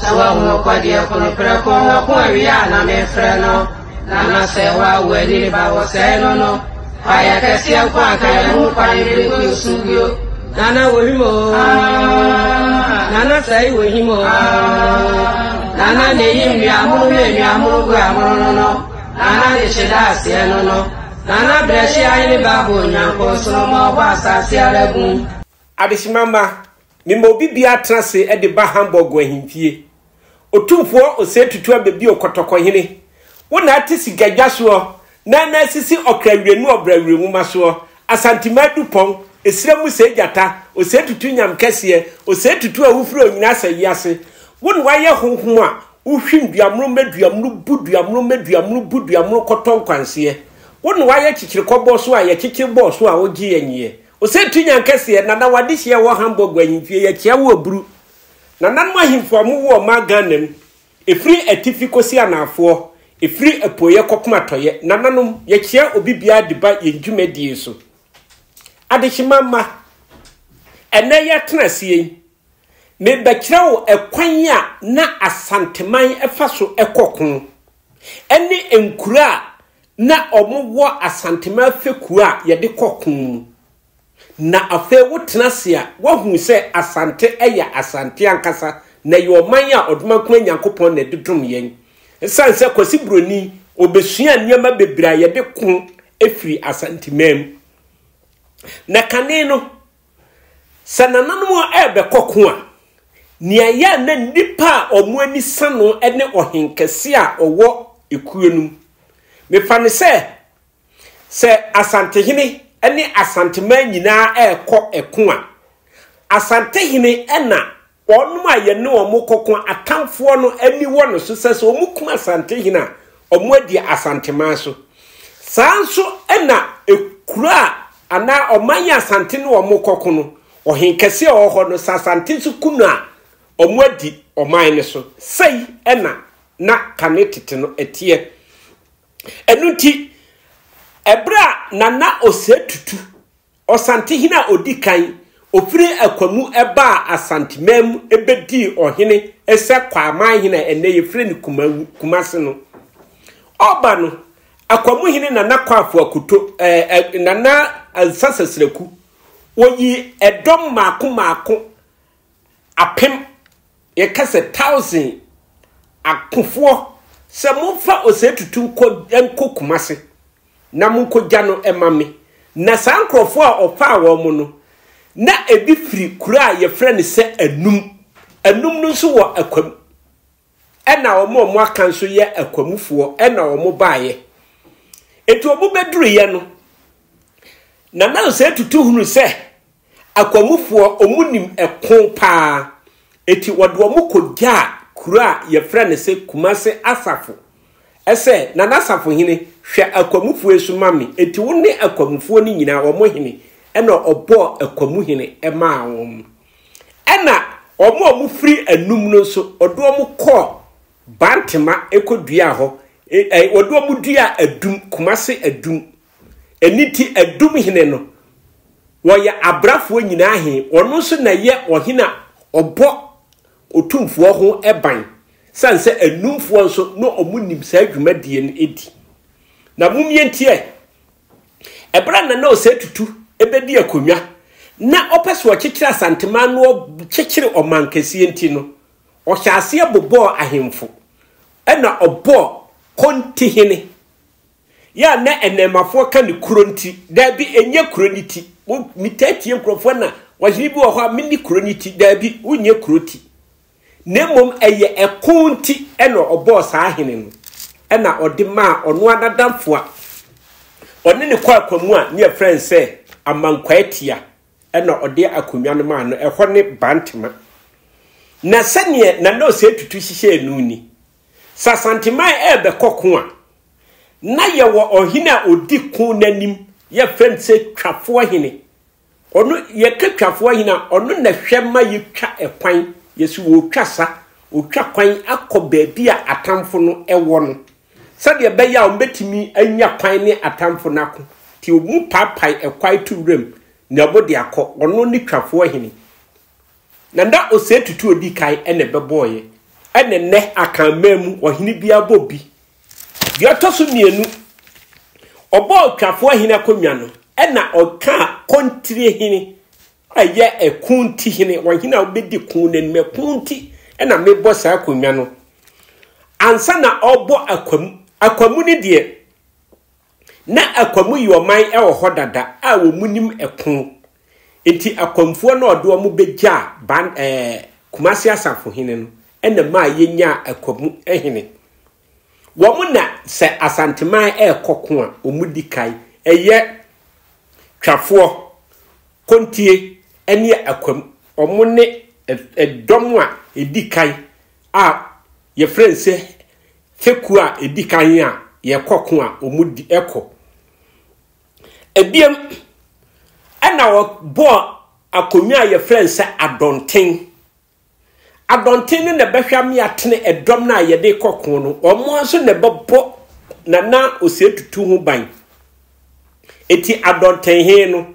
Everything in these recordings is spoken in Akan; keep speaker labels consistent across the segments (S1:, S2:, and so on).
S1: Sɛ woahu ɔkwadeɛ ko no prɛko ɔko awie a na mefrɛ no na na sɛ woawo ani ne ba wɔ sɛe no no kwaeɛ kɛseɛ nko anka yɛ ho kwan bere gu nsu bio nana wɔ him o nana sɛe wɔ him o nana na ɛyi nnuamono ne nnuamono gu amono no no nana de hyeda aseɛ no no nana brɛ hyia ne ba bɔ onyankopɔn soro ma ɔbɔ asase ara gum Adehyema mma,
S2: mema obi biara tena ase de ba Hamburg wɔ ahemfie. Otumfoɔ Osei Tutu Abɛbio Kɔtɔkɔhene, wo na ate sikadwa soɔ na na asisi ɔkra wiranu ɔbra wirenwoma soɔ, Asantema Adupɔn, Esira mu Sɛɛ Gyata, Osei Tutu Nyam kɛseɛ, Osei Tutu a wofiri onyina asa wiase. Wo na woayɛ honhom a wohwim duamono ma duamono bu duamono ma duamono bu duamono kɔtɔ nkwanseɛ. Wo na woayɛ kyekyere kɔbɔɔ so a yɛkyekyere bɔɔ so a wogye yɛn nyeɛ. Ose tu nyan kɛseɛ nana wadehyeɛ ɛwɔ Hamburg ahemfie yɛkyea wo aburu nananom ahemfo a mowo ɔman Ghana mu ɛfiri atifi kɔsi anaafoɔ ɛfiri apueɛ kɔpem atɔeɛ nananom yɛkyea obi biara de ba yɛn dwumadie so adehyema mma ɛnɛ yɛatena aseɛ yi mebɛkyerɛ wo ɛkwan a na asanteman ɛfa so ɛkɔ ko ne nkuro a na wɔwɔ Asantema afekuo a yɛde kɔ ko mu. Na afei wotena ase a, woahu sɛ Asante yɛ Asante ankasa, na ɛyɛ ɔman a Ɔdomankoma Nyankopɔn na ɛde dom yɛn. Ɛsiane sɛ Kwasi Buroni, ɔbɛsuaa nneɛma bebree a yɛde ko firi Asanteman mu. Na kane no, Sɛ nananom a ɛrebɛkɔ ko a, nea ɛyɛ a na nnipa a wɔn ani sa no ne ɔhenkɛse a ɔwɔ ekuo no mu. Mefa no sɛ, sɛ Asantehene ne Asanteman nyinaa rekɔ ko a, Asantehene na Wɔn a yɛne wɔn rekɔko atamfoɔ no ani wɔ no so sɛ sɛ wɔkum Asantehene a, wɔadi Asanteman so. Saa nso na kuro a anaa ɔman a Asante ne wɔn rekɔko no, ɔhenkɛse a ɔwɔ hɔ no, sɛ Asante nso ku no a, wɔadi ɔman no so. Sei na na kane tete no ɛteɛ. Ɛno nti, ɛberɛ a Nana Osei Tutu Ɔsantehene a ɔdi kan, ɔfiri Akwa mu baa Asanteman mu bɛdii ɔhene sɛ Kwaaman hene a ɛnnɛ yɛfrɛ no Kumase no. Ɔba no, Akwa mu hene Nana Kwaafo Akoto, eh, eh, Nana Ansa Sasraku, wɔyii ɛdɔm mmaako mmaako apem, yɛka sɛ thousand akofoɔ sɛ momfa ɔsɛ tutu nkɔ nkɔ Kumase na monkɔgya no ma me. Na saa nkurɔfoɔ a ɔfaa wɔn mo no, na ebi firi kuro a yɛfrɛ no sɛ Anum. Anum no nso wɔ Akwam. ɛna wɔn a wɔn aka nso yɛ akwamufoɔ ɛna wɔn baeɛ eti wɔn bɛduruiɛ no na na sɛ tutu hunu sɛ akwamufoɔ wɔn nim ɛko paa eti wɔde wɔn kɔ gyaa kuro a yɛfrɛ no sɛ kumase asafo ɛsɛ na n'asafo hene hwɛ akwamufoɔ esu ma me eti wɔn ne akwamufoɔ no nyinaa wɔn hene ɛna ɔbɔɔ akwamu hene ɛmaa wɔn. Ɛnna wɔn a wɔfiri anum no nso, wɔde wɔn kɔɔ Bantema kɔduaa hɔ. Wɔde wɔn duaa adum, Kumase adum. Ɛno nti, adum hene no, wɔyɛ abrafoɔ nyinaa he. Ɔno nso na ɛyɛ ɔhene a ɔbɔ otumfoɔ ho ban, sane sɛ anumfoɔ nso na wɔnim saa dwumadie no di. Na mom yɛntie. Ɛberɛ a Nana Osei Tutu bɛdi akonnwa na ɔpɛ sɛ ɔkyekyere Asanteman na ɔkyekyere ɔmankɛseɛ nti no, ɔhyɛɛ aseɛ bobɔɔ ahemfo na ɔbɔɔ Kontihene. Yɛ a na Nnɛɛmafoɔ ka no kuro nti, daabi, ɛnyɛ kuro no ti. Metaa tie nkurɔfoɔ na ɔhene bi wɔ hɔ a menni kuro no ti, daabi, wonyɛ kuro ti. na mmom ɛyɛ ɛko nti na ɔbɔɔ saa ahene no na ɔde maa ɔno ara n'adamfo a ɔne ne kɔ akwa mu a ne yɛfrɛ no sɛ Amankwaatia na ɔde akonnwa no maa no. Ɛhɔ ne Bantama. Na sɛdeɛ Nana Osei Tutu hyehyɛɛ no ni, sɛ Asanteman ɛrebɛkɔ ko a, na yɛwɔ ɔhene a ɔdi ko no anim, yɛfrɛ no sɛ Twafoɔ Hene. Ɔno yɛka twafo ayi no a, ɔno na ɛhwɛ ma yɛtwa ɛkwan. Yɛsi wɔretwa sa, wɔtwa kwan akɔ baabi a atamfo no wɔ no, sɛdeɛ ɛbɛyɛ a wɔbɛtumi anya kwan ne atamfo no ako. Nti wɔpaapae ɛkwae to wuram na wɔde akɔ. Ɔno ne twafoɔ hene. Na na Osei Tutu ɔdi kan na ɛbɛbɔeɛ. Ɛna nnɛ Akanman mu, ɔhene biara bɔ bi. Deɛ ɔtɔ so mmienu, ɔbɔɔ Otwafoɔ Ahene akonnwa no, ɛna ɔkaa Kontire Hene a ɛyɛ ɛko nti hene, wɔn hene a wobɛdi ko no anim, ɛko nti ɛna mebɔ saa akonnwa no. Ansa na ɔrebɔ akwamu, akwamu no deɛ, Ná Akwamuyi ɔman wɔ hɔ dada a wɔnnim ko, enti Akwamfoɔ no a ɔde wɔn bɛgyaa Ban eh, Kumasi Asafohene no na ɛmaa yɛnyaa Akwamu hene. Wɔn na sɛ Asanteman rekɔ ko a, wɔn di kan yɛ Twafoɔ, Kontie ne Akwamu. Wɔn ne eh, eh, dɔm a ɛdi kan a yɛfrɛ no sɛ fekuo a ɛdi kan a yɛkɔ ko a wɔn di ɛkɔ ɛbiam ɛna wɔbɔɔ akonnwa a yɛfrɛ no sɛ adɔnten adɔnten no na ɛbɛhwɛ ame atene ɛdɔm no a yɛde kɔ ko no wɔn nso na ɛbɛbɔ nana ɔsɛ tutu ho ban ɛti adɔnten he no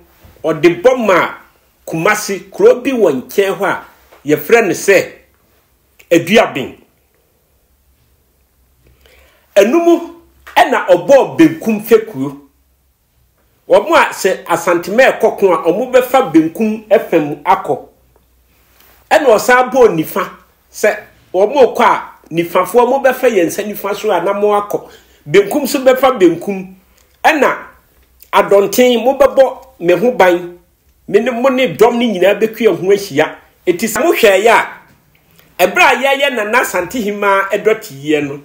S2: ɔde bɔ ma kumase kuro bi wɔ nkyɛn hɔ a yɛfrɛ no sɛ aduaben. Ɛno mu na ɔbɔɔ benkum fekuo. Wɔn a sɛ Asantema ɛkɔ ko a, wɔbɛfa benkum fa mu akɔ. Ɛna ɔsan bɔɔ nifa sɛ wɔn kɔ a, nifafoɔ wɔbɛfa yɛn nsa nifa so a na wɔakɔ. Benkum so bɛfa benkum. Ɛna adɔnten mobɛbɔ me ho ban Me ne mo ne dɔm no nyinaa bɛkua ho ahyia. Enti sɛ mohwɛeɛ a, ɛberɛ a yɛreyɛ Nana Asante Hemmaa ɛdɔteeɛ no,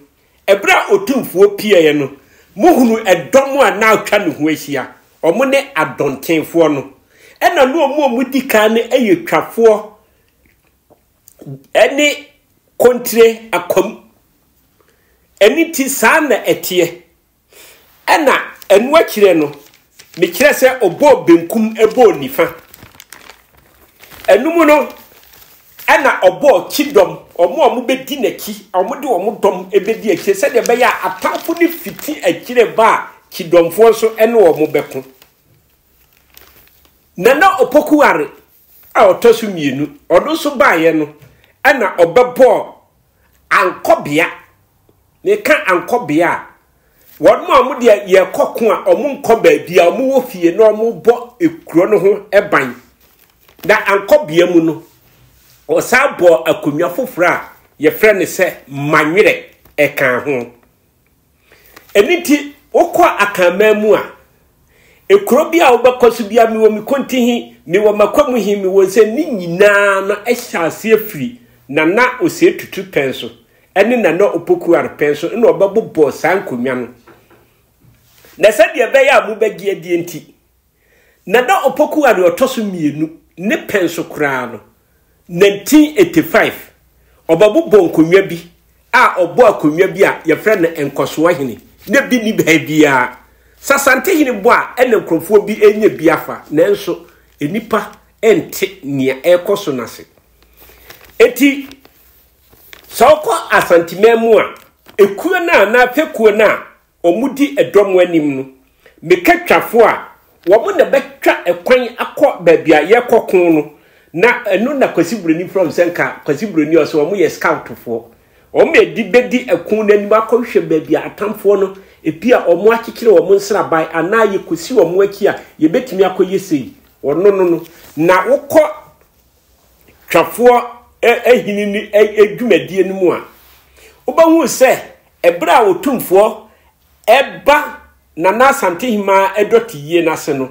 S2: ɛberɛ a Otumfoɔ pieeɛ no, mohunu ɛdɔm a na atwa ne ho ahyia, wɔn ne adɔntenfoɔ no, ɛna na wɔn a wɔdi kan no yɛ twafoɔ ne kontire akwam. Ɛno nti saa na ɛteɛ. Ɛna ɛno akyirɛ no, mekyerɛ sɛ ɔbɔɔ benkum bɔɔ nifa. Ɛno mu no, ɛna ɔbɔɔ kyidɔm, ɔmo a ɔmo bɛdi n'akyi, ɔmo de ɔmo dɔm bɛdi akyire, sɛdeɛ ɛbɛyɛ a atamfo no fiti akyire ba a, kyidɔmfoɔ nso ne ɔmo bɛko. Nana Opoku-Ware a ɔtɔ so mmienu, ɔno nso baeɛ no, ɛna ɔbɛbɔɔ ankɔbea. Meka ankɔbea a, wɔn a wɔn deɛ yɛkɔ ko a wɔn nkɔ baabi a wɔn wɔ fie na wɔn bɔ ekuro no ho ban. Na ankɔbea mu no, ɔsan bɔɔ akonnwa foforɔ a yɛfrɛ no sɛ manwerɛ ɛka ho. Ɛno nti, wokɔ Akanman mu a, ekuro bi a wobɛkɔ so bia mewɔ me konti he, mewɔ makwamu he, mewɔ sɛ ne nyinaa no hyɛ aseɛ firi Nana Osei Tutu pɛn so ne Nana Opokuware pɛn so na ɔbɛbobɔ saa nkonnwa no. Na sɛdeɛ ɛbɛyɛ a mobɛgye adie nti, Na na Opoku a nea ɔtɔ so mmienu ne pɛn so koraa no, 1985, ɔbɛbobɔ nkonnwa bi a ɔbɔɔ akonnwa bi a yɛfrɛ no Nkɔsoɔ Hene, na bi nni baabiara. Sasantehene bɔ a ɛna nkurɔfoɔ bi renya bi afa, nanso nnipa nte nea ɛrekɔ so no ase. Enti, sɛ wokɔ Asanteman mu a, ekuo no a anaa fekuo no a wɔdi ɛdɔ mu anim no, meka twafo a, wɔn na bɛtwa ɛkwan akɔ baabi a yɛkɔ ko no, na ɛno na Kwasi Buroni frɛ wɔn sɛ nka Kwasi Buroni a ɔsɛ wɔn yɛ scoutfoɔ. Wɔn na ɛdi bɛdi ɛko no anim akɔhwehwɛ baabi a atamfoɔ no ebi a wɔn akyekyere wɔn nsraban anaa yɛkɔsi wɔn akyi a yɛbɛtumi akɔyɛ sei. Wɔno no no. Na wokɔ twafoɔ ahini no dwumadie no mu a, wobɛhu sɛ ɛberɛ a ɔtumfoɔ ɛba Nana Asante Hemaa ɛdɔte yie no ase no,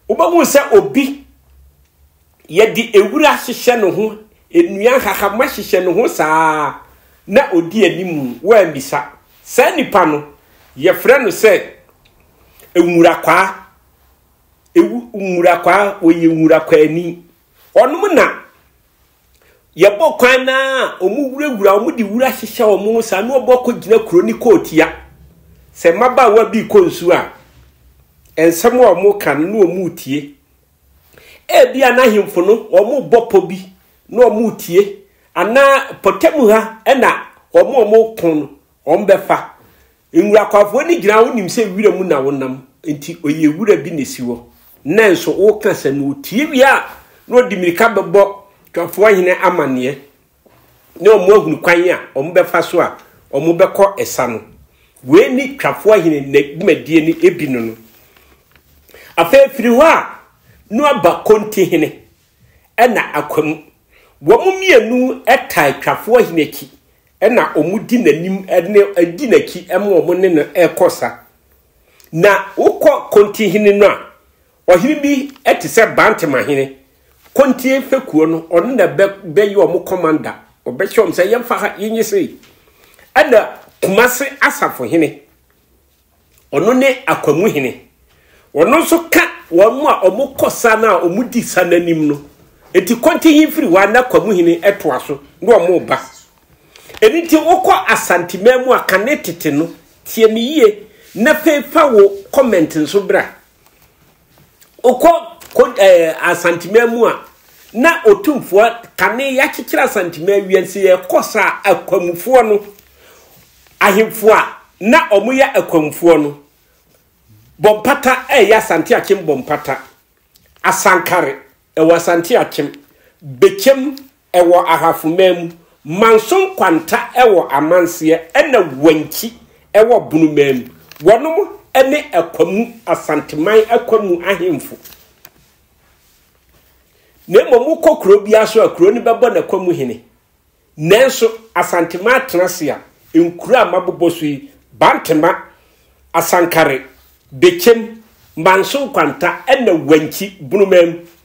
S2: wobɛhu sɛ obi yɛde ewura hyehyɛ ne ho, nnua nhahamma hyehyɛ ne ho saa na ɔdi anim wɔammisa. Saa nipa no, yɛfrɛ no sɛ nwurakwaa. Ewu nwurakwaa wɔyɛ nwurakwaani. Wɔnom na yɛbɔ kwan no a wɔwurawura, wɔde wura hyehyɛ wɔn saa na wɔbɔ kɔgyina kuro ne kootia. Sɛ mmabaawa bi rekɔ nsuo a, nsɛm a wɔka no na wɔretie. Ebia n'ahemfo no wɔbɔ pɔ bi na wɔretie anaa pɔtam ha na wɔn a wɔko no wɔbɛfa. Nwura kwafoɔ no gyina wonim sɛ wira mu na wonam nti ɔyɛ wura bi na ɛsi hɔ nanso woka sɛ na ɔtie wie a na ɔde mmirika bɛbɔ twafoɔ hene amanneɛ ne ɔmo ahunu kwan a ɔmo bɛfa so a ɔmo bɛkɔ ɛsa no wei ne twafoɔ hene na dwumadie no ebi no no afei firi hɔ a no aba konti hene ɛna akwamu wɔn mmienu ɛtaa twafoɔ hene akyi na wɔdi n'anim ne di n'akyi ma wɔn ne no rekɔ sa. Na wokɔ Kontihene no a, ɔhene bi te sɛ Bantemahene, Kontie fekuo no, ɔno na bɛyɛ wɔn kɔmanda. Ɔbɛhyɛ wɔn sɛ yɛmfa ha, yɛnyɛ sei. Ɛna Kumase Asafohene. Ɔno ne akwamu hene. Ɔno nso ka wɔn a wɔkɔ sa no a wɔdi sa no anim no. Enti kɔntinyi firi hɔ a na akwamu hene toa so na wɔba. Ɛno nti wokɔ Asanteman mu a kane tete no, tie me yie na afei fa wo comment nso bra. Wokɔ ko ɛɛ Asanteman mu a, na otumfoɔ kane yɛakyekyere Asanteman wiase yɛ kɔ saa akwamufoɔ no ahemfo a na wɔn yɛ akwamufoɔ no bɔ mpata ɛyɛ Asante Akyem bɔ mpata Asankare ɛwɔ Asante Akyem Bekyem Ɛwɔ Ahafo man mu, Manso Nkwanta wɔ Amanseɛ ɛna Wankyi wɔ Bono man mu. Wɔnom ne Akwamu, Asanteman Akwamu ahemfo. Na mmom wokɔ kuro biara so a kuro no bɛbɔ n'Akwamu hene. Nanso Asanteman atenase a nkuro a mabobɔ so yi, Bantema, Asankare, Bekyem, Manso Nkwanta ɛna Wankyi, Bono man mu,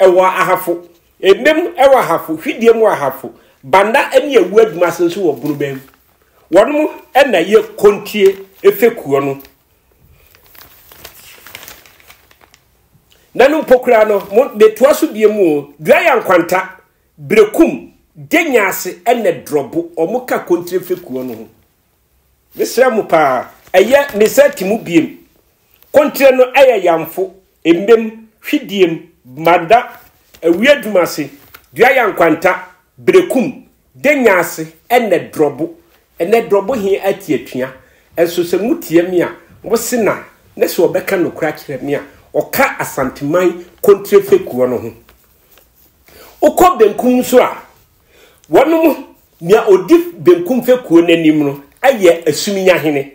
S2: Ɛwɔ Ahafo, Emem wɔ Ahafo, Hwidiam wɔ Ahafo, Banda ne Awu Adwuma ase nso wɔ Bunubɛn. Wɔnom na ɛyɛ Kontie fekuo no. Nano mpo koraa no, mo metoa so bie mu o, Duaya Nkwanta, Brekum, Denyaase ne Drɔbo, wɔn ka Kontire fekuo no ho. Mesrɛ mo paa, ɛyɛ Mesa Timu biem, Kontrɛ no yɛ yamfo, mmem, hwidiem, bmada, awia adwuma ase, dua yankwanta, berekum, denya ase, ɛnɛ drɔbo. Ɛnɛ drɔbo he ate atua, nso sɛ motia me a, mose na, ne sɛ ɔbɛka nokorɛ akyerɛ me a, ɔka Asanteman kontrɛ fekuɔ no ho. Wokɔ benkum nso a, wɔnom, nea odi benkum fekuo no anim no yɛ Asumnya hene.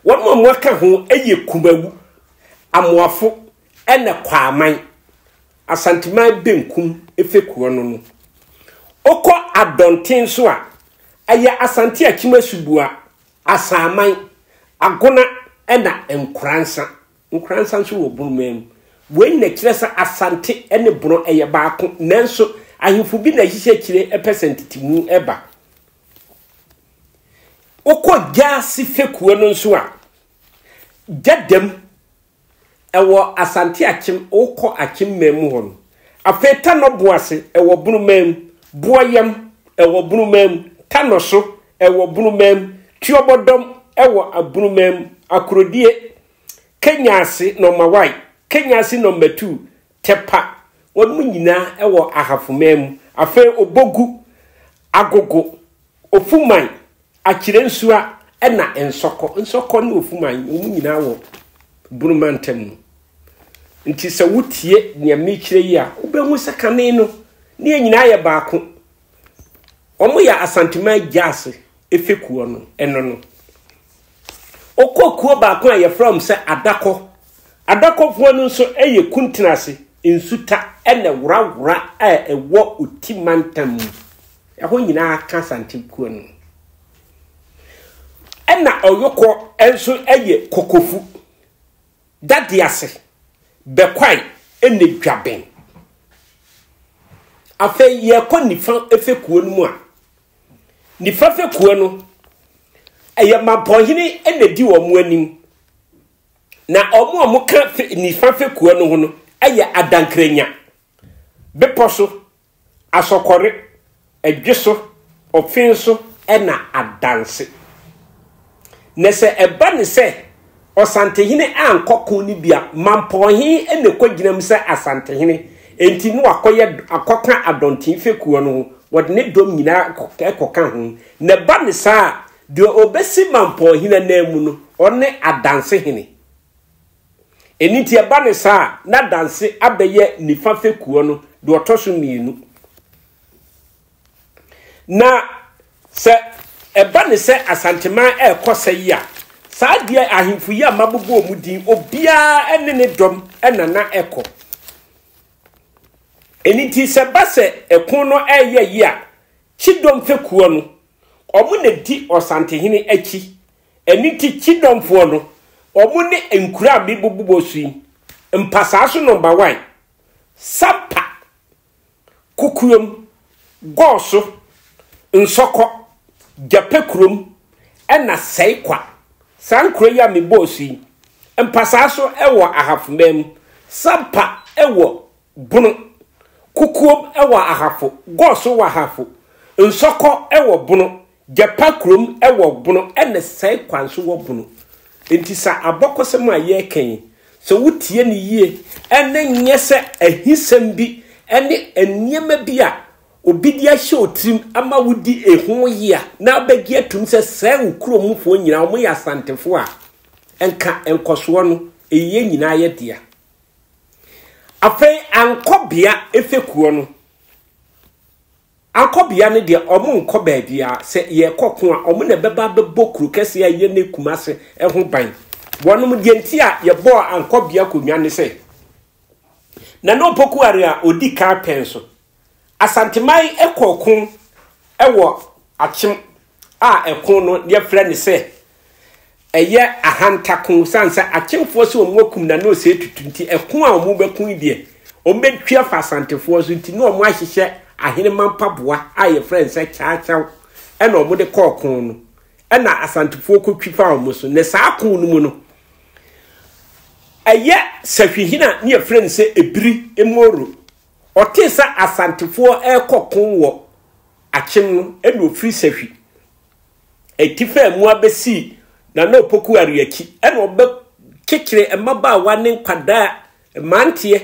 S2: Wɔn a wɔaka ho yɛ Kumawu, Amoafo na Kwaaman, Asanteman Benkum fekuo no no. Wokɔ Adɔnten nso a, ɛyɛ Asante Akyem Asubua, Asanman, Agona na Nkoransa. Nkoransa nso wɔ Bonomaa mu. Wei nyina kyerɛ sɛ Asante ne Bono yɛ baako nanso ahemfo bi na ahyihyɛ akyire pɛ sɛ ntetemu ba. Wokɔ Gyasi fekuo no nso a, Gyadam, ɛwɔ Asante Akyem, wokɔ Akyem man mu hɔ no. Afei Tanɔ Boase, ɛwɔ Bono man mu, Boɔyam, ɛwɔ Bono man mu, Tanɔso, ɛwɔ Bono man mu, Tuobɔdɔm, ɛwɔ Bono man mu, Akorodie, Kenyasi Nɔmawai, Kenyasi Nɔmatuu, Tepa, wɔnom nyinaa wɔ Ahafoman mu, afei Obogu, Agogo, Ofuman, Akyirensua ɛna Nsɔkɔ. Nsɔkɔ ne Ofuman wɔnom nyinaa wɔ Bono mantam mu. Nti sɛ wotie nea mekyerɛ yi a, wobɛhu sɛ kane no ne yɛn nyinaa yɛ baako. Wɔyɛ Asanteman Gyaase fekuo no, ɛno no. Ɔkɔɔ kuo baako a yɛfrɛ wɔn sɛ Adakɔ. Adakɔfoɔ no nso yɛ Kuntenase, Nsuta ne Worawora a ɛwɔ Oti mantam mu. Ɛhɔ nyinaa ka Asante kuo no ho. Ɛna Ɔyokɔ nso yɛ Kokofu, Dadease, Bɛkwae ne Dwaben. Afei yɛkɔ nifa fekuo no mu a, Nifa fekuo no, ɛyɛ mampɔnhene na di wɔn anim. Na wɔn a wɔka nifa fekuo no ho no yɛ adankranya, bepɔ so, asɔkɔre, adwe so, ɔfen so na adanse. Na sɛ ɛba no sɛ Ɔsantehene ankɔ ko no bi a, Mampɔn he na ɛkɔgyina mu sɛ Asantehene. Enti na wakɔyɛ akɔka Adɔnten fekuo no ho, wɔde ne dɔm nyinaa kɔka ho. Na ɛba no saa a, deɛ ɔbɛsi Mampɔn hene ananmu no, ɔne Adanse hene. Ɛno nti ɛba no saa a, na Adanse abɛyɛ nifa fekuo no deɛ ɔtɔ so mmienu. Na sɛ ɛba ne sɛ Asanteman ɛrekɔ sɛ yi a, saa deɛ ahemfo yi a mabobɔ wɔn din, obiara ne ne dɔm na na ɛkɔ. Ɛno nti sɛ ba sɛ ɛko no ɛreyɛ yi a, Kyidɔm fekuo no, wɔn na di Ɔsantehene akyi. Ɛno nti Kyidɔmfoɔ no, wɔn ne nkuro a mebobobɔ so yi, Mpasaa so nɔmba wan, Sapa, Kokoam, Gɔɔso, Nsɔkɔ, Gyapɛ kurom na Sɛe Kwa. Saa nkuro yi a mebɔɔ so yi, Mpasaa so wɔ Ahafo man mu, Sampa wɔ Bono, Kokoam wɔ Ahafo, Gɔɔso wɔ Ahafo, Nsɔkɔ wɔ Bono, Gyapa kurom wɔ Bono na Sɛe kwa nso wɔ Bono. Enti saa abɔkɔsɛm a yɛreka yi, sɛ wotie no yie na ɛnyɛ sɛ ahisɛm bi ne nneɛma bi a obi de ahyɛ wo tirim ma wodi ho ye a, na wobɛgye atom sɛ saa wo kurom mufoɔ nyinaa wɔyɛ Asantefoɔ a, nka nkɔsoɔ no, ɛyɛ nyinaa yɛ dea. Afei ankɔbea fekuo no. Akɔbea no deɛ wɔnkɔ baabiara, sɛ yɛkɔ ko a wɔn na ɛbɛba abɛbɔ kuro kɛseɛ a ɛyɛ ne Kumase ho ban. Wɔnom, deɛ nti a yɛbɔɔ Ankɔbea akonnwa ne sɛ, Nana Opoku Are a ɔdi kan pɛn so. Asanteman kɔɔ ko wɔ Akyem a ɛko no yɛfrɛ no sɛ ɛyɛ ahantako san sɛ akyemfoɔ sɛ wɔn akum na na ɔsɛ etutu nti ɛko a wɔn bɛko yi deɛ wɔn bɛtwi afa asantefoɔ so nti na wɔn ahyehyɛ aheneman mpaboa a yɛfrɛ no sɛ kyaakyaaw ɛna wɔn de kɔɔ ko no ɛna asantefoɔ kɔtwi fa wɔn so na saa ko no mu no ɛyɛ sahwihina ne yɛfrɛ no sɛ ebiri emoro ɔte sɛ asantefoɔ ɛrekɔ ko wɔ akyem no ɛna ɔfiri sahwi ati faa mu abɛsii Nana Opoku Ario akyi na ɔbɛkyekyere mmabaawa ne nkwadaa mmeranteɛ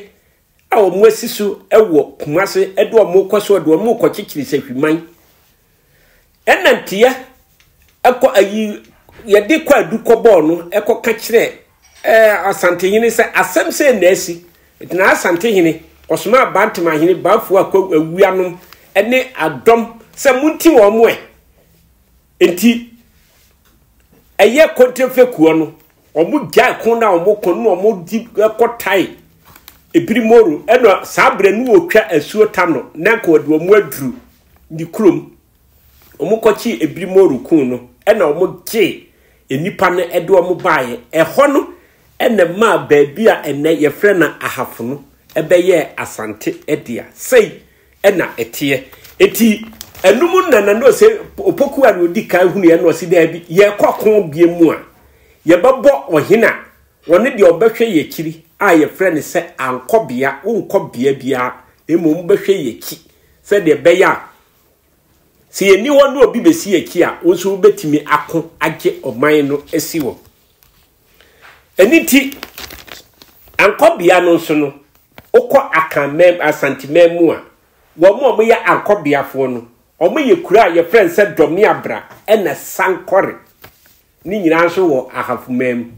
S2: a wɔn asi so wɔ Kumase de wɔn kɔ so de wɔn kɔkyekyere sahwiman ɛna nteɛ ɛkɔ ayi yɛde kɔ adu kɔ bɔɔl no ɛkɔ ka kyerɛ ɛɛ asantehene sɛ asɛm sɛ na asi ɛtena asantehene ɔsoma abantemahene baafo akɔ awuanom ɛne adɔm sɛ monti wɔn mo ɛ Enti, ɛyɛ Kontrefekua no, wɔn gyae ko na wɔn ko na wɔn di kɔ tae ebiri moro ɛna saa berɛ no wɔtwa asuo ta no na nka wɔde wɔn aduru ne kurom wɔn kɔkye ebiri moro kun no ɛna wɔn gye nnipa no ɛde wɔn baeɛ ɛhɔ no ɛna maa baabi a ɛnɛ yɛfrɛ na ahafo no ɛbɛyɛ asante ɛdea sɛi na ɛteɛ. Enti ɛnom na na no sɛ opoku a na odi kan hunuiɛ na ɔsi daabi, yɛkɔ ɔko bie mu a, yɛbɛbɔ ɔhene a, ɔne deɛ ɔbɛhwɛ yɛn akyiri a yɛfrɛ no sɛ ankɔbea, wonkɔ bea biara, na mmom wobɛhwɛ yɛn akyi sɛdeɛ ɛbɛyɛ a, sɛ yɛnni hɔ na obi bɛsi yɛn akyi a, wo nso wobɛtumi ako agye ɔman no asi hɔ. Ɛno nti, Ankɔ bea no nso no, wokɔ Akan man, Asante man mu a, wɔn a wɔyɛ Ankɔ beafoɔ no, wɔyɛ kuro a yɛfrɛ no sɛ Dɔmeabra ɛna Sankɔre. Ne nyinaa nso wɔ Ahafo man mu.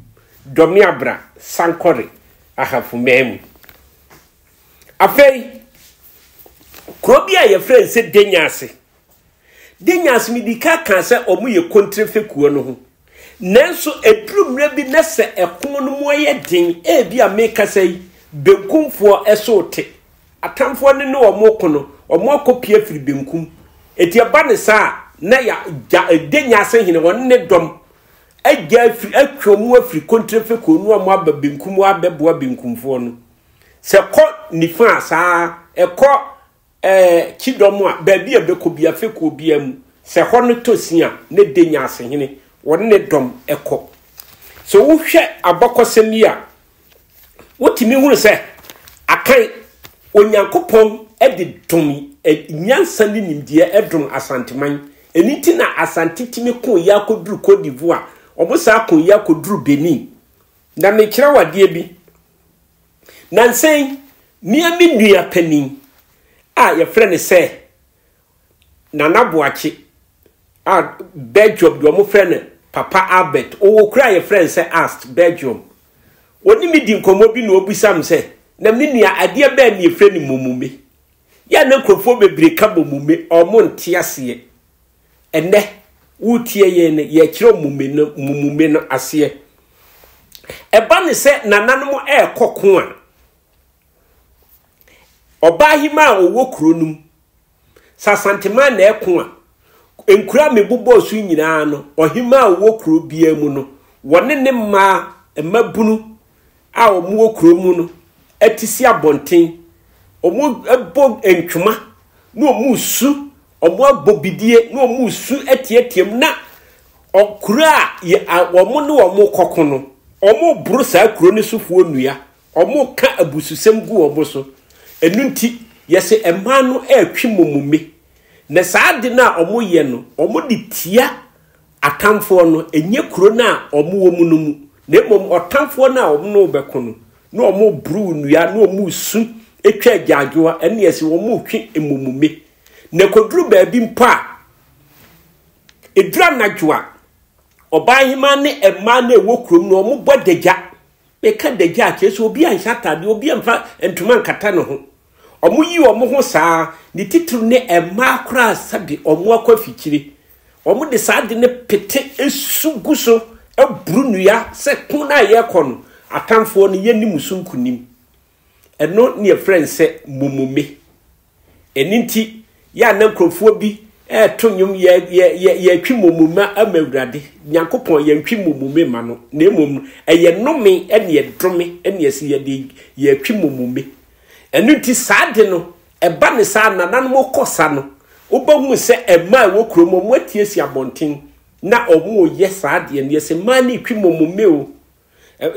S2: Dɔmeabra, Sankɔre, Ahafo man mu. Afei, kuro bi a yɛfrɛ no sɛ Denyaase. de nyansam di ka kaa sɛ wɔyɛ kontire fekuo no ho. Nanso ɛduru mmerɛ bi na sɛ ɛko no mu yɛ den, ebi a mekasa yi, benkumfoɔ so te. Atamfoɔ no ne wɔn ko no, wɔn akɔpie afiri benkum. Enti ɛba ne saa a, na ya, ja, de nyansam hene wɔn ne dɔm agya afiri, atwe wɔn afiri kontire fekuo no wɔn aba benkum wɔabɛboa benkumfoɔ no. Sɛ kɔ nifa a saa, ɛkɔ Ɛɛ, kyidɔm a, baabi a ɛbɛkɔ biara, fekuo biara mu, sɛ hɔ no tɔ sin a, ne de nyansehene, wɔne ne dɔm kɔ. Sɛ wohwɛ abakɔsɛm yi a, wotumi hunu sɛ akan Onyankopɔn de dom nyansa ne nimdeɛ dom Asanteman. Ɛno nti na Asante tumi ko yɛ akɔduru Cote d'Ivoire, wɔn saa ko yɛ akɔduru Benin. Na mekyerɛ wo adeɛ bi. Nnansa yi, me a me nua panin a yɛfrɛ no sɛ Nana Boakye a Belgium deɛ wɔfrɛ no Papa Albert, ɔwɔ kuro a yɛfrɛ no sɛ Ast, Belgium. Ɔne me di nkɔmmɔ bi na ɔbisa me sɛ, na me nua adeɛ bɛn na yɛfrɛ no momume? Yɛ a na nkurɔfoɔ bebree ka momume, wɔn nte aseɛ. Ɛnnɛ, woretie yɛn no, yɛkyerɛw mmume no mmume no aseɛ. Ɛba ne sɛ nananom ɛrekɔ ko a, ɔbaa hema a ɔwɔ kuro no mu, sɛ asantema na ɛko a, nkura a mebobɔɔ so nyinaa no, ɔhema a ɔwɔ kuro biara mu no, wɔne ne mmaa, mmabunu, a wɔwɔ kurow mu no ati si abɔnten, wɔbɔ ntwoma na wɔresu, wɔabɔ bidie na wɔresu teɛteɛm na kuro a wɔn ne wɔn rekɔko no, wɔreboro saa kuro no sofoɔ nnua, wɔreka abususɛm gu wɔn so. Ɛno nti, yɛsɛ mmaa no retwe mɔmumi. Na saa ade no a wɔyɛ no, wɔde tia Atamfoɔ no, ɛnyɛ kuro no a wɔwɔ mu no mu, na mmom ɔtamfoɔ no a wɔn ne wo bɛko no, na wɔreboro wo nnua, na wɔresu twa agyaadwowa, ɛne ɛse wɔretwe mmommume. Na ɛkɔduru baabi mpo a, ɛduru anadwo a, ɔbaa hemaa ne mmaa no a ɛwɔ kurom no, wɔbɔ adagya, Bɛka dagya a, kyerɛ sɛ obi anhyɛ ataadeɛ, obi amfa ntoma ankata ne ho. Wɔyi wɔn ho saa ara, ne titiriw ne mmaa koraa sɛde wɔn akɔ afikyire. Wɔde saa ade no pete su gu so boro nnua sɛ ko no a yɛrekɔ no, atamfoɔ no, yɛnni mo so nkonim. Ɛno ne yɛfrɛ no sɛ mummume. Ɛno nti, yɛ a na nkurɔfoɔ bi ɛreto nnwom yɛ yɛ yɛ yɛtwe mummume ama Awurade Nyankopɔn, yɛntwe mummume ma no, na mmom no ɛyɛ nnome ɛne ɛdome ɛne ɛsɛ yɛde yɛtwe mummume. Ɛno nti saa de no ɛba ne saa nananom kɔ sa no wobɛhu sɛ ɛma a ɛwɔ kurom wɔn atiesie abɔnten na wɔn yɛ saa deɛ no yɛ sɛ mmaa ne twe mummume o.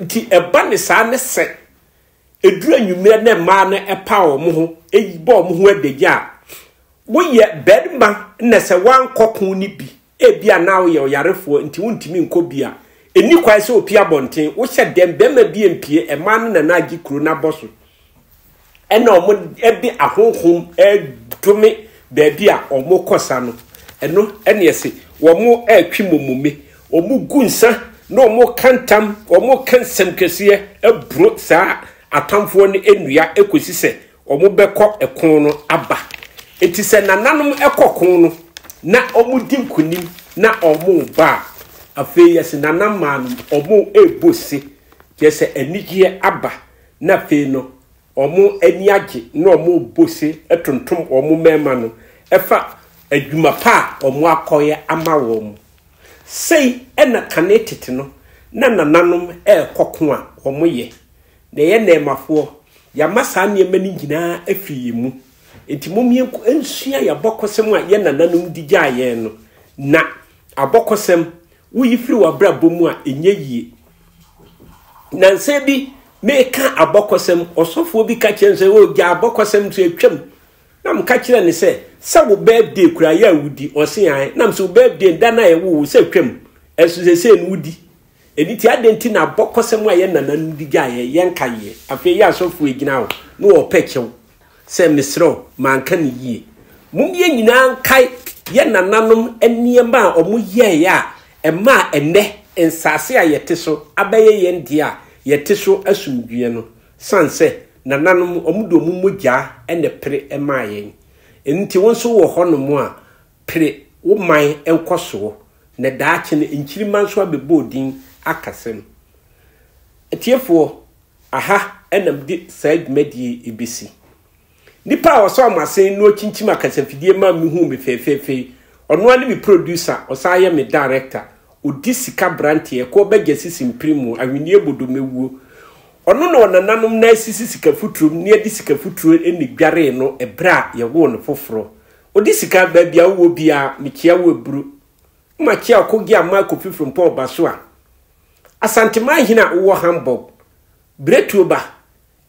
S2: Nti ɛba ne saa ne sɛ ɛduru anwummerɛ na mmaa no ɛpa wɔn ho, bɔ wɔn ho adagya a, woyɛ barima na sɛ woankɔ ko no bi, ebi a na woyɛ ɔyarefoɔ nti wontumi nkɔ bi a, ɛni kwan sɛ opi abɔnten, wohyɛ dɛm, barima bi mpie, mmaa no na na agye kuro no abɔ so. ɛna wɔde ahonhom dome baabi a wɔkɔsa no. Ɛno ne ɛse wɔretwe momome, wɔgu nsa na wɔka ntam, wɔka nsɛm kɛseɛ aburo saa atamfoɔ no nnua kɔsi sɛ wɔbɛkɔ ɛko no aba. Enti sɛ nananom kɔ ko no na wɔdi nkonim na wɔba a, afei yɛse nanammaa no wɔrebɔ se, kyerɛ sɛ anigyeɛ aba. na afei no wɔn ani agye na wɔrebɔ ose tontom wɔn mmarima no ɛfa adwuma pa a wɔn akɔyɛ ama wɔn. Sei na kane tete no na nananom rekɔ ko a wɔyɛ. Na yɛn nnɛɛmafoɔ, yɛama saa nneɛma no nyinaa afiri yɛn mu. Enti mom yɛnko nsua yɛn abɔkɔsɛm a yɛn nananom de gyaa yɛn no. Na abɔkɔsɛm, woyi firi w'abrabɔ mu a, ɛnyɛ yie. Nansa bi meka abɔkɔsɛm, ɔsɔfoɔ bi ka kyerɛ me sɛ, o gya abɔkɔsɛm nso atwam. Na meka kyerɛ ne sɛ, sɛ wo birthday kura yɛ a wodi, ɔse ae. Nam sɛ wo birthday da no a yɛwo wo sɛ atwam, ɛso sɛsɛ no wodi. Ɛni ti adɛn ti na abɔkɔsɛm a yɛ nananom di gyaeɛ, yɛnka yɛ. Afei yɛ asɔfoɔ gyina hɔ na wɔpɛ kyɛw. sɛ mesrɛ wo manka no yie. Mom yɛn nyinaa nkae yɛn nananom nneɛma a wɔn yɛeɛ a ɛmaa ɛnnɛ nsaase a yɛte so abɛyɛ yɛn deɛ a yɛte so asomdwoeɛ no. Sane sɛ nananom wɔn de wɔn mogyaa na ɛpere maa yɛn. Ɛno nti wo nso wɔ hɔ nom a pere wo man nkɔsoɔ na daakye no nkyirima nso abɛbɔ wo din akasam. Atiefoɔ Aha na mede saa dwumadie yi bɛsi. Nipa a ɔsɔ amasen na ɔkyinkyim akasafidie ma mehuu me fɛfɛɛfɛ yi, ɔno ara ne me producer, ɔsan yɛ me director. Ɔdi sika branteɛ, ɛkoɔ bagya sisi mpiri mu, ahweneɛ bodo mɛwuo. Ɔno na ɔnananom nan asisi sika futuro mu na yɛde sika futuro na ɛdwaree no ɛberɛ a yɛwoo no foforɔ. Ɔdi sika, baabi a wowɔ biara, mekyea wo aburu. Makyea Okogie Amaa Kofi Frimpong Ɔbasoa. Asanteman hene a wowɔ Hamburg, biretuo ba,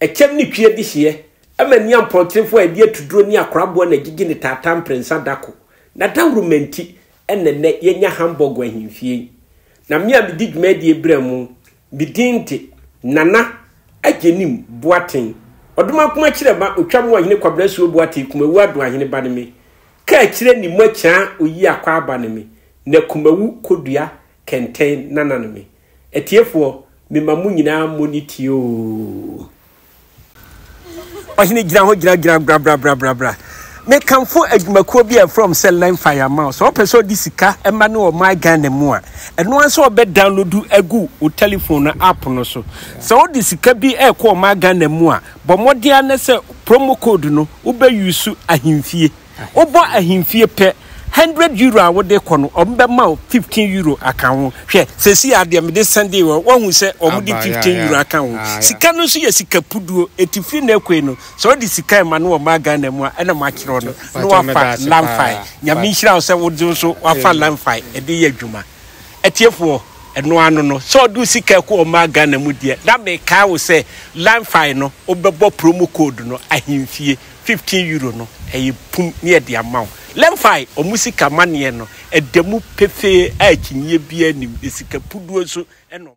S2: ɛkyɛm ne twi adi hyeɛ, ɛma ani ampɔnkyerefoɔ a ɛde atuduro ne akoraboa na ɛgyegye ne taataa mprɛnsa da ko. N'adawuruma nti na nnɛ yɛanya Hamburg ahemfie yi. Na me a medi dwumadie berɛ mu, me din de Nana Agyenim Boateng, Ɔdomankoma Kyerɛma Otwa mu Ɔhene Kwabena Asuo Boateng Kumawu Adoahene ba ne me. Kaakyire Nimmo Akyaa Oyi Akwaaba ne me, na Kumawu Kodua Kɛntɛn nana no me. Atiefoɔ me ma mo nyinaa mo ni tie oo. Ɔhene gyina hɔ gyina gyina bra bra bra bra bra. Me kamfo adwumakuo bi a ɛfrɔm sɛ Learn Fire Mao sɛ ɔpɛ sɛ ɔde sika ɛma ne ɔman Ghana mu a ɛno ara sɛ ɔbɛ download agu o telephone no app no so sɛ ɔde sika bi ɛkɔ ɔman Ghana mu a bɔ mmɔden a na sɛ promo code no wobɛ use ahemfie Wobɔ ahemfie pɛ, hundred euro a wode kɔ no, wɔbɛma wo fifteen euro aka ho. Hwɛ, seesei ara deɛ mede sɛndee wɔn, woahu sɛ wɔde fifteen euro aka ho. Sika no nso yɛ sika puduo, enti firi nnɛ rekɔ yi no, sɛ wode sika rema no wɔ mmaa Ghana mu a, ɛna makyerɛ wo no, na woafa Lamfae. Nyame nhyira wo sɛ wode nso woafa Lamfae de yɛ adwuma. Atiefoɔ, ɛno ara no no, sɛ wode wo sika rekɔ wɔ mmaa Ghana mu deɛ, na mekae wo sɛ Lamfae no, wobɛbɔ promo code no, ahemfie. fifteen euro no ɛyɛ pum ne yɛde ama wo Lemfi ɔmo sika maneɛ no ɛda mu pefee a akyinyie biaa nnim na sika puduo nso na ɔmo